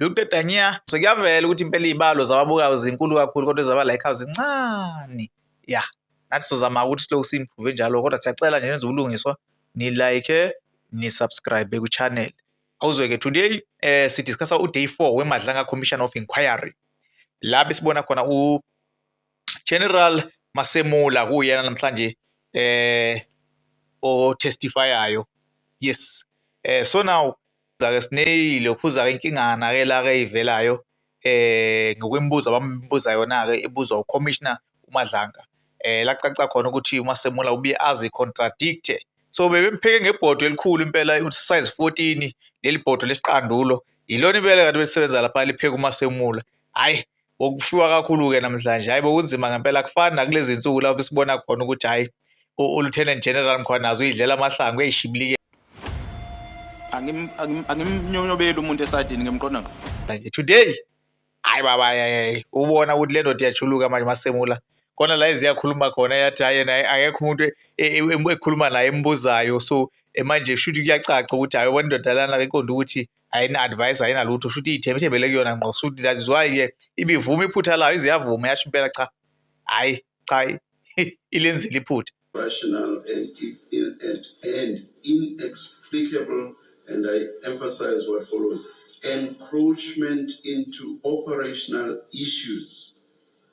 Dr Dania, sekuyavela ukuthi impela iy'balo zababukayo zinkulu kakhulu kodwa ezaba like zincane ya nathi sizozama ukuthi silokhu si-improve njalo kodwa siyacela nje nenze ubulungiswa ni-like ni-subscribe ku-channel awuzweke today eh sidiscussa uday four wemadlanga commission of inquiry la besibona khona General Masemula kuyena namhlanje eh o testifiayo yes eh so now zake sineyile ukhuza ke inkingana ke la ke ivelayo eh ngokwemibuzo abambuza yona ke ibuzwa ucommissioner uMadlanga eh lacaca khona ukuthi uMasemula ubuye azi contradict so bebempheke ngebhodo elikhulu impela size 14 leli bhodo lesiqandulo yilona impela kanti belisebenza lapha lipheka uMasemula hayi okufiwa kakhulu-ke namhlanje hhayi bokunzima ngempela akufani nakulezi nsuku lapho sibona khona ukuthi hhayi ulieutenant general mkhwanazi uyidlela amahlangu uyayishibilike angimnyonyobeli umuntu esadini ngimqonda ngqo manje today hayi baba yayayi ubona ukuthi le ndoda iyachuluka manje masemula khona la eziyakhuluma khona yathi hayi yena akekho umuntu e, e, e, ekhuluma naye embuzayo so manje kusho ukuthi kuyacaca ukuthi hayi ubona indoda lana iqonda ukuthi ayina-advice ayinalutho shuthi iyithembethembele kuyona ngqo shuthi that is why ke ibivuma iphutha layo iziyavuma yasho impela cha hhayi cha ilenzile iphutha rational and, and, and inexplicable and I emphasize what follows encroachment into operational issues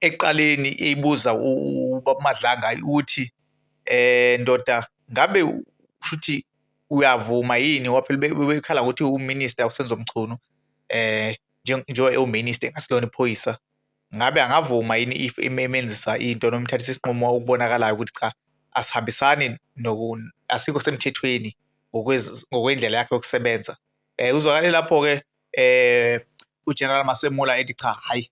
ekuqaleni eyibuza ubaba Madlanga ukuthi eh ndoda ngabe shuthi uyavuma yini ngoba phela bebekhala ngokuthi uminister uSenzo Mchunu eh njengoba ewuminister engasilona iphoyisa ngabe angavuma yini if imemenzisa into noma imthathisa isinqumo okubonakalayo ukuthi cha asihambisani asikho semthethweni ngokwendlela yakhe yokusebenza um uzwakale lapho-ke eh uGeneral Masemula ethi cha hayi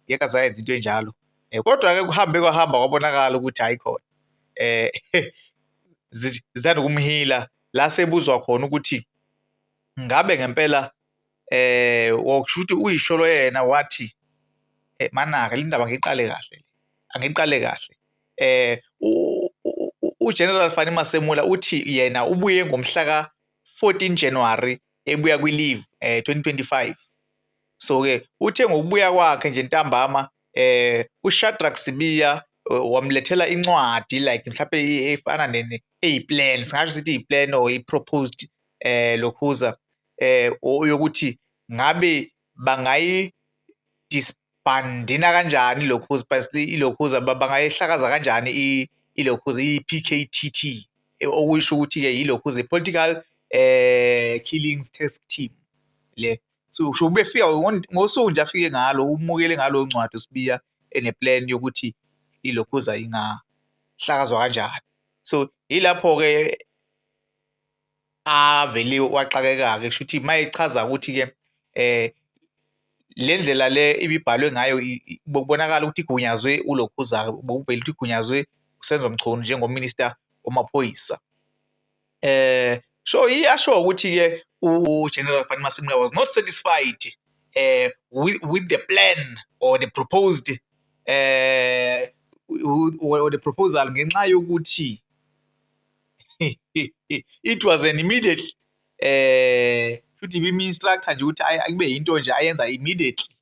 ngeke azayenza into enjalo eh, kodwa ke kuhambe kwahamba kwabonakala ukuthi hayi khona eh zithanda ukumhila la sebuzwa khona ukuthi ngabe ngempela eh wokushuthi uyisholo yena wathi eh, manaka lindaba ngiqale kahle angiqale kahle eh uGeneral Fani Masemula uthi yena ubuye ngomhla ka 14 January ebuya kwi-leave eh 2025 so ke uthe ngokubuya kwakhe nje ntambama eh uShadrack Sibiya eh, wamlethela incwadi like mhlawumbe efana nene eyiplan singasho sithi iplan or iproposed eh lokhuza eh yokuthi ngabe bangayi bandina kanjani ilokhuza basicela ilokhuza bangayihlakaza kanjani ilokhuza i-PKTT e, okusho ukuthi-ke yilokhuza i-political eh killings task team le so usho ubefika ngosuku nje afike ngalo umukele ngalo ncwadi usibiya eneplan yokuthi ilokhuza ingahlakazwa kanjani so yilapho-ke avele waxakeka-ke kusho ukuthi uma echaza ukuthi-ke um le ndlela le ibibhalwe ngayo bokubonakala ukuthi igunyazwe ulokhuzaka bokuvele ukuthi igunyazwe usenzo mchunu njengominista wamaphoyisa um so iyasho ukuthi-ke ugeneral fani masimula was not satisfied uh, with, with the plan or the proposed uh, or the proposal ngenxa yokuthi it was an immediate eh futhi ibimi instructor nje ukuthi kube into nje ayenza immediately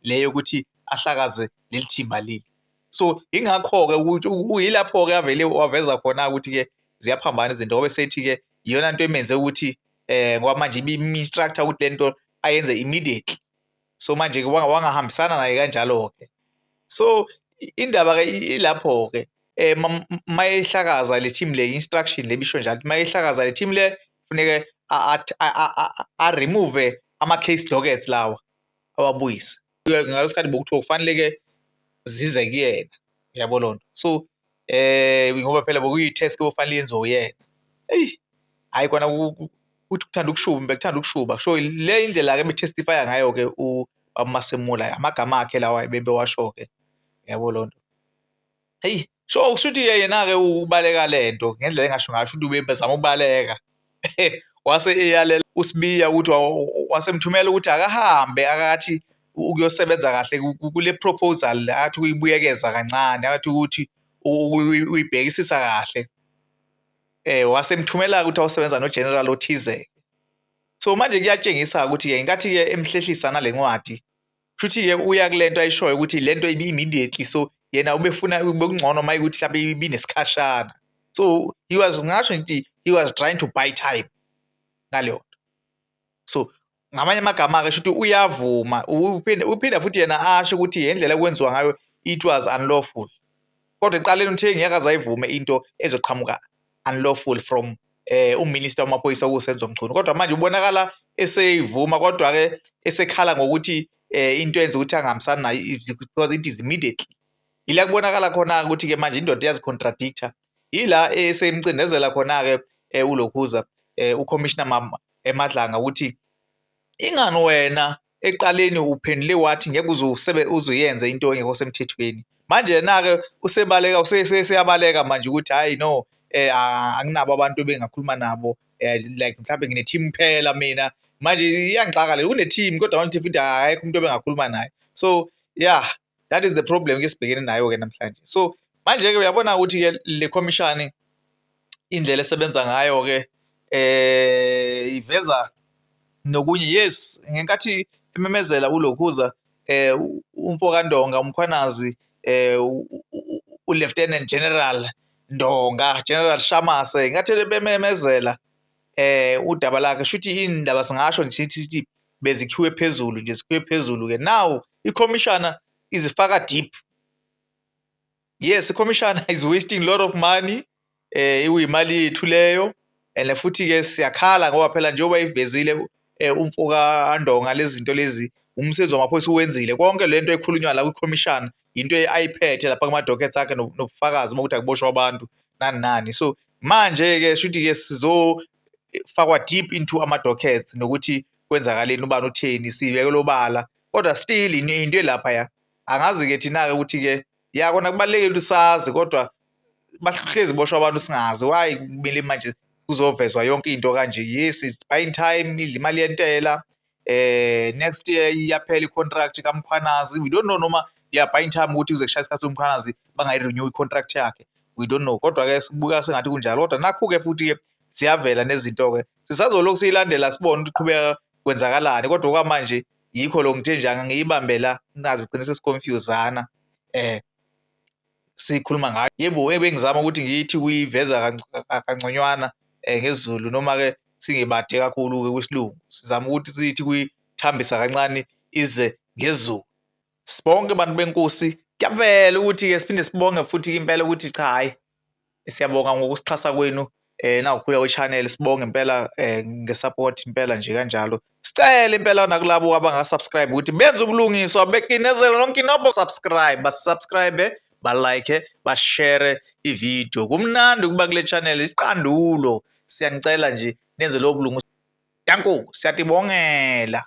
leyo ukuthi ahlakaze leli thimba leli so ingakho ke ukuthi uyilapho ke avele waveza khona ukuthi ke ziyaphambana izinto ngoba sethi ke iyona into emenze ukuthi eh ngoba manje ibimi instructor ukuthi lento ayenze immediately so manje-ke wangahambisana naye kanjalo-ke so indaba-ke ilapho-ke um eh, mayehlakaza le team le instruction le bisho njalo mayehlakaza le team le funeke a-remove ama-case dockets lawa awabuyise ngaleso sikhathi bokuthiwa kufanele-ke zize kuyena uyabo loo nto so eh ngoba phela bokuyi-task bofanele yenziwe uyena eyi hhayi kona uthi kuthanda ukushuba bekuthanda ukushuba so le indlela-ke betestifya ngayo-ke umasemula amagama akhe lawa bebewasho-ke yabo loo nto heyi so kusho ukuthi yena-ke ubaleka le nto ngendlela engasho ngayo sho ukuthi ubezama ukubaleka wase eyalela uSibiya ukuthi wasemthumela ukuthi akahambe akathi ukuyosebenza kahle kule proposal athi uyibuyekeza kancane athi ukuthi uyibhekisisa kahle eh wasemthumela ukuthi awusebenza no general othize so manje kuyatshengisa ukuthi ke inkathi ke emhlehlisa nalencwadi Shuthi ke uya kulento ayishoyo ukuthi lento ibi immediately so yena ubefuna bekungcono maye ukuthi mhlawumbe ibinesikhashana so he was ngasho ngithi he was trying to buy time ngaleyo nto so ngamanye amagama-ke shuthi uyavuma uphinda futhi yena asho ukuthi yendlela ekwenziwa ngayo it was unlawful kodwa ekuqaleni uthe ngeke azayivume into ezoqhamuka unlawful from eh uminister wamaphoyisa okusenzo mchunu kodwa manje ubonakala eseyivuma kodwa ke esekhala ngokuthi eh into yenza ukuthi angahambisani nayo because it is immediately ila kubonakala khona ukuthi ke manje indoda iyazicontradict-a yila esemcindezela khona-ke um eh, ulokhuza um eh, ucommissioner eh, madlanga ukuthi ingani wena ekuqaleni uphendule wathi ngeke uze usebe uzuyenze into engekho semthethweni manje yena-ke usebaleka useyabaleka manje ukuthi hhayi no um anginabo abantu ebengakhuluma nabo um like mhlawumbe ngine-team phela mina manje iyangixaka le une-team kodwa manje futhi akekho umuntu ebengakhuluma naye so ya that is the problem ke sibhekene nayo ke namhlanje so manje ke uyabona ukuthi ke le commission indlela esebenza ngayo ke eh iveza nokunye yes ngenkathi imemezela ulokhuza eh umfo kaNdonga umkhwanazi eh u Lieutenant General Ndonga General Shamase ngathi bememezela eh udaba lakhe shuthi indaba singasho nje sithi bezikhiwe phezulu nje zikhiwe phezulu ke now ikhomishana izifaka deep yes ikhomishana is wasting lot of money eh iwimali yethu leyo and futhi ke siyakhala ngoba phela njengoba ivezile eh, umfoka andonga lezinto lezi umsebenzi wamaphoyisa uwenzile konke lento ekhulunywa la kwikhomishana into ayiphethe lapha kuma dockets akhe nobufakazi bokuthi akuboshwa abantu nani nani so manje ke shuthi ke sizo fakwa deep into ama dockets nokuthi kwenzakaleni ubani utheni sibekelwe obala kodwa still into elapha ya angazi ke thina ke ukuthi ke ya kona kubalekile ukuthi sazi kodwa bahlezi boshwa abantu singazi why kumele manje kuzovezwa yonke into kanje yes it's buying time idla imali yentela eh next year iyaphela icontract kaMkhwanazi we don't know noma yeah by time ukuthi uze kushaya isikhathi uMkhwanazi bangayirenew icontract yakhe we don't know kodwa ke sibuka sengathi kunjalo kodwa nakho ke futhi ke siyavela nezinto ke sisazolokhu siyilandela sibone ukuthi qhubeka kwenzakalani kodwa okwamanje yikho lo ngithe nje ngiyibambela ngazi qinise siconfusana eh sikhuluma ngayo yebo ebengizama ukuthi ngithi kuyiveza kangconywana um ngesiZulu noma-ke singibade kakhulu-ke kwisilungu sizama ukuthi sithi kuyithambisa kancane ize ngezulu sibonke bantu benkosi kuyavela ukuthi-ke siphinde sibonge futhi impela ukuthi cha hhayi Siyabonga ngokusixhasa kwenu eh nawukhula we-channel sibonge impela eh, nge-support impela nje kanjalo sicele impela nakulabo abanga-subscribe ukuthi benze ubulungiswa bekinezele lonke inobho subscribe basubscribe balike bashere ividiyo kumnandi ukuba kule channel isiqandulo siyanicela nje nenze lowo bulungiswa danku siyatibongela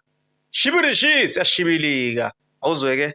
shibirishi siyashibilika awuzweke